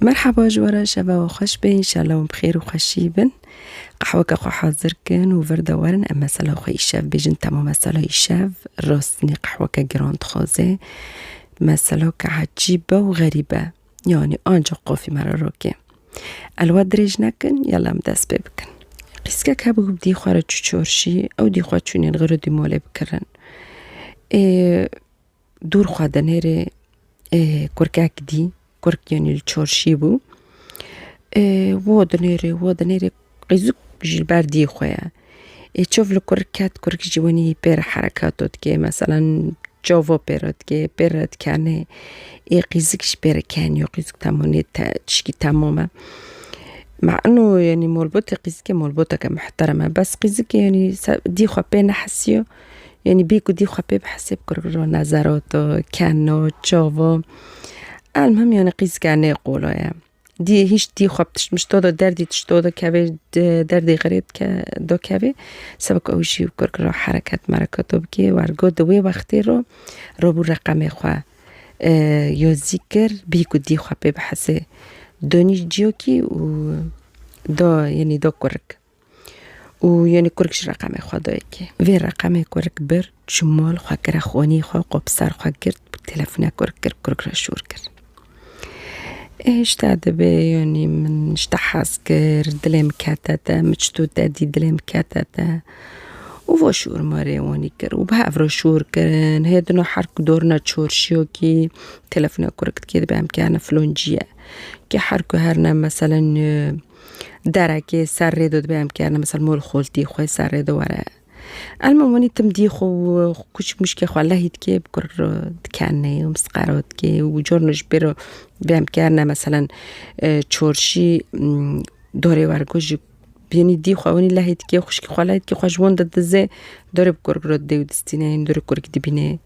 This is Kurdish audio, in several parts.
Merhaba ji we re şeva we xweş be înşela hûn bi xêr û xweşî bin. Qehweke xwe hazir kin û vir de werin em mesela xwe îşev bêjin tema mesela îşev rastînî qehweke giran dixwaze mesela ke ecîb be û xerîb be yanî anca qafî me re rokê. El we dirêj nekin yala em dest pê bikin. Qîskek hebû bi dî xwe re çû çarşî ew dî xwe çûnên xirûdî malê bikirin. Ê Dûr xwe di nêrê kurkek dî kurk yenî li çorşî bû wo di nêrê wo di nêrê qîzik jî li ber dî xwe ye ê çov li kurk ket kurk jî wenî pê re hereketo dike meselen covo pê re dike pê re dikenê ê qîzik jî pê re keniyo qîzik temenê te tişkî temam e me ino yenî malbatê qîzikê malbateke mihterem e bes qîzikê yenî dî xwe pê nehisiyo Yanî bî ku dî xwe pê bi hesê bikirkiro ne zerot o, ken o, çav o. Elmuhim yanî qîzke nê qolo ye. Dî hîç dî xwe bi tişt mişto de derdî tişto de kevê derdê xirê dike do kevê seba ku ew jî bi kirkiro hereket mereketo bikê wer got di wê wextê ro robû reqemê xwe yo zî kir bî ku dî xwe pê bi hesê donî ciyokî û do yanî do kurik. û yonî kurik ji reqemê xwe dayê kê. Vê reqemê kurik bir, çû mal xwe kira xwênî xwe qo bi ser xwe girt û telefûna kurik kir, kurik re şûr kir. Ê ji te dibe yonî min ji te hez kir, dilê min kete te, min çi tu te dît dilê min kete te. Û va şûr ma rê wanî kir û bi hev re şûr kirin. Hê dino her ku dorina çorşiyokî telefûna kurik dikê dibe em kerine filon cî ye. Kê her ku herine meselen Derekê ser rê de dibê em kerine misal mol xoltî xwe ser rê de were. Elma wanî tim dî xwe kûçik mûçikê xwe lehî dikê bi kur dikenê û misqero dikê û carna ji pê re dibê em kerine meselen çorşî dorê were ku ji bînî dî xwe wanî lehî dikê xwişkî xwe lehî dikê xwe ji wan de dizê dorê bi kur didê û distîne dorê kurikî dibînê.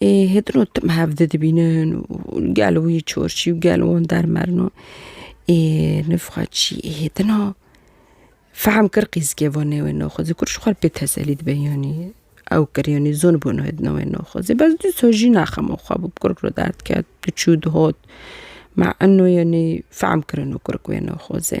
Ê hêdino tim hevdi dibînin û gel wî çorçî û gel wan dermerin û ê nifxa çî ê hêdina fehm kir qîzikê va nê wê naxwazê kur ji xwe re pê teselî dibe yanî ew kir yanî zûn bûn hêdina wê naxwazê bes dîsa jî nexema xwe bû bi kurik re derd ket diçû dihat ma eno yanî fehm kirino kurik wê naxwazê.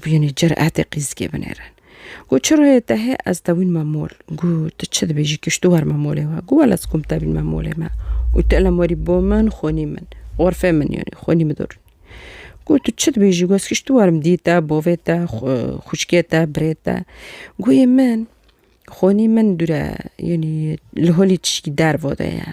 Bûyînê cüretê qîzgê binêrin. Got çi royê te hê ez tewîn me mol. Got tu çi dibê jî kiştu wer me molê we. Got wela ez kom tevîn me molê me. Û tu elem werî bo min xonî min. Xorfê min yanî xonî min dorî. Got tu çi dibê jî got ez kiştu werim dî te, bavê te, xûçkê te, birê te. Got yê min xonî min dûre yanî li holî tişkî derve de ye.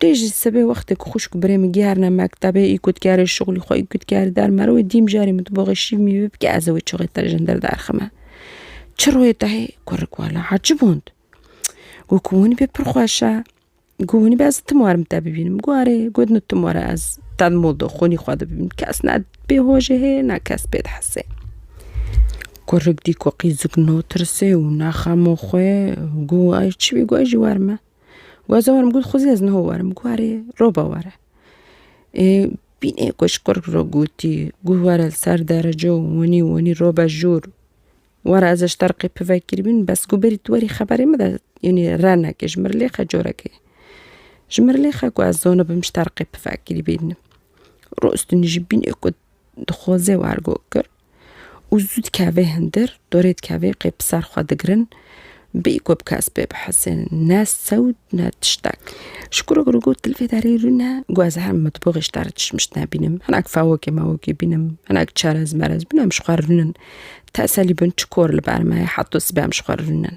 Tê ji sibê wextê ku xwişk û birê min gihêrine mektebê, î kut kêrê şixulî xwe, î kut kêrê derma re wê dîm carî min diboxe şîv mîvê bike ez ê wê çixê te jindir derxime. Çi royê te hê? Kurik wala ha çi bûnd? Got ku hûnî bê pir xweş e. Got hûnî bê ez tim warim te bibînim. Got erê. Got no tim were ez te di mol de xwînî xwe de bibînim. Kes ne pê hojê heye ne kes pê dihesê. Kurik dî ku qîzik natirsê û nexemo xwe got ay çi bî got ez jî werim e. Got ez ê werim got xwezî ez niho werim got erê roba were. Bînê ku ji kurk re gotî got were li ser derece û winî winî robe jûr were ez ji te re qê pivekirîbîn bes got berî tu werî xeberê min de înê re neke ji min re lêxe corekê. Ji min re lêxe ku ez zonibim ji te re qê pivekirîbîn. Rûstîn jî bînê ku dixwaze wergo kir. û zû dikeve hindir, dorê dikeve qê bi ser xwe digirin, bêyî ku bi kes pê bihesên, ne sewd ne tiştek. Ji kurê kurê got li vê derê rûne ku ez her mitboxê ji derê tişt mişt nebînim, hinek fewokê mewokê bînim, hinek çerez merez bînim em ji xwe rûnin. Teselî bin çi kor li ber me ye heto sibê em ji xwe rûnin.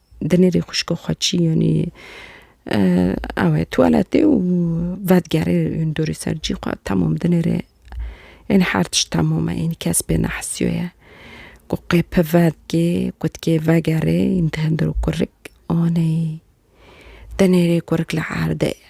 dinêrî xuşko xwe çî yanî ew e tuwaletê û vedigerê ûn dorê ser cî xwe temam dinêrê ên her tişt temam e ên kes pê nehisiyoye ku qê pi vedikê ku dikê vegerê ên dihindir û kurik aneyî dinêrê kurik li erdê ye.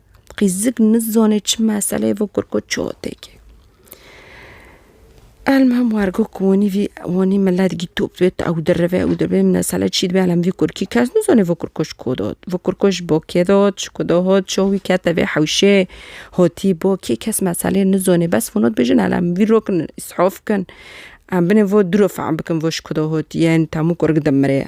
Qîzik nizanê çi meseleyê vê kir ku çoteke. Elmihim wergo ku wanî vî wanî milet gîtop bê ew dirive ew dirive mesele çî dibe elem vî kurkî kes nizane vê kurko ji ku dot. Vê kurko ji bo kê dot, ji ku dot, çawa wî kete vê hewşê, hatî bo kê kes meselê nizane bes hûn dibêjin elem vî rok in îsaf bikin. Em binê vê diro fehm bikin vê ji ku de hatiye, temû kurk dimire ye.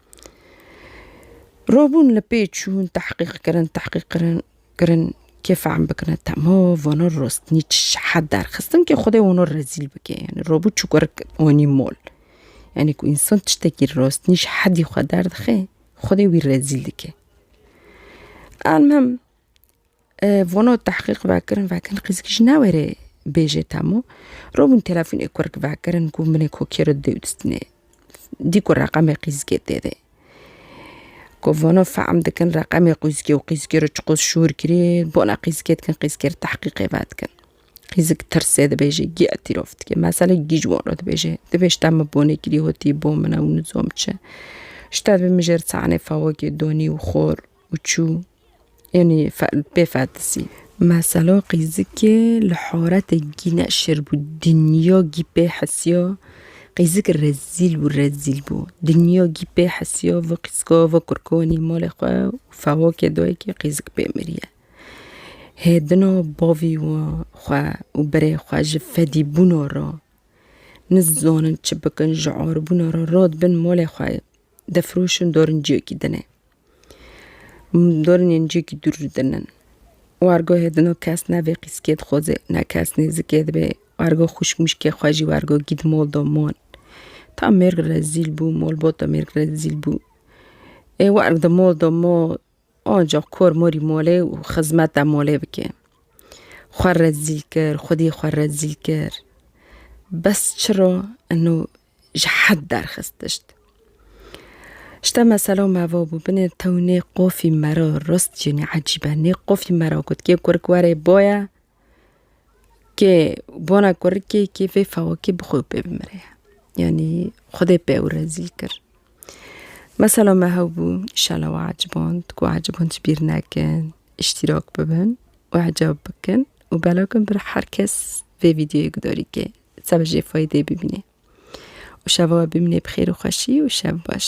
Robûn li pê çûn tehqîq kirin tehqîq kirin kirin kê fehm bikine temo vano rostinî çi şehet derxistin kê xwedê wano rezîl bike yanî robû çûkurik wanî mol yanî ku însan tiştekî rostinî ji hedî xwe derdixe xwedê wî rezîl dike elmim Vono tehqîq vekirin vekin qîzikî ji newêrê bêjê temo. Robûn telefûnê kurk vekirin ku minê kokê re dewdistinê. Dî ku reqemê qîzikê tê de. Ku vono fehm dikin reqemê qîzikê û qîzikê re çiqos şûr kirî bona qîzikê dikin qîzikê re tehqîqê vedikin. Qîzik tirsê dibêjê gî etîrof dike. Mesele gî ji wan re dibêje. Dibê şita min bonê kirî hotî bo min e û nizom çi. Şita min jê re çanê fewokê donî û xor û çû. Yanî bê ferdisî. Mesela qîzikê li haretê gî ne şir bû dinya gî pê hesiya qîzik rezîl bû rezîl bû dinya gî pê hesiya vê qîzika vê kurka wînî malê xwe û fewakê dayikê qîzik pê miriye. Hê dina bavê wî xwe û berê xwe ji fedî bûna re nizanin çi bikin ji arbûna re radibin malê xwe defiroşin darin ciyekî dinê. Dornên cîkî dûr ji din in. Wargoyê din o kes ne vê qîskê dixoze ne kes nêzikê dibe. Wargo xwişk mişkê xwe jî wargo gîd mol do mol. Ta mêrg rezîl bû mol bot do mêrg rezîl bû. Ê warg di mol do mol ancaq kor morî mole û xizmeta mole bike. Xwe rezîl kir xwedî xwe rezîl kir. Bes çiro eno ji hed derxist tişt. Ji te mesela me va bû binê tew nê qofî mera rast jî nê ecîb e. Nê qofî mera got kê kurik were boye kê bona kurikê kê vê fewakê bi xwe pê bimire. Yanî xwedê pê ew rezîl kir. Mesela me hew bû îşala we eciband ku eciband ji bîr nekin, îştîrak bibin û ecab bikin û belakin bir her kes vê vîdyoyê gudarî kê. Seba jê faydê bibînê. Û şeva we bimînê bi xêr û xweşî û şev baş.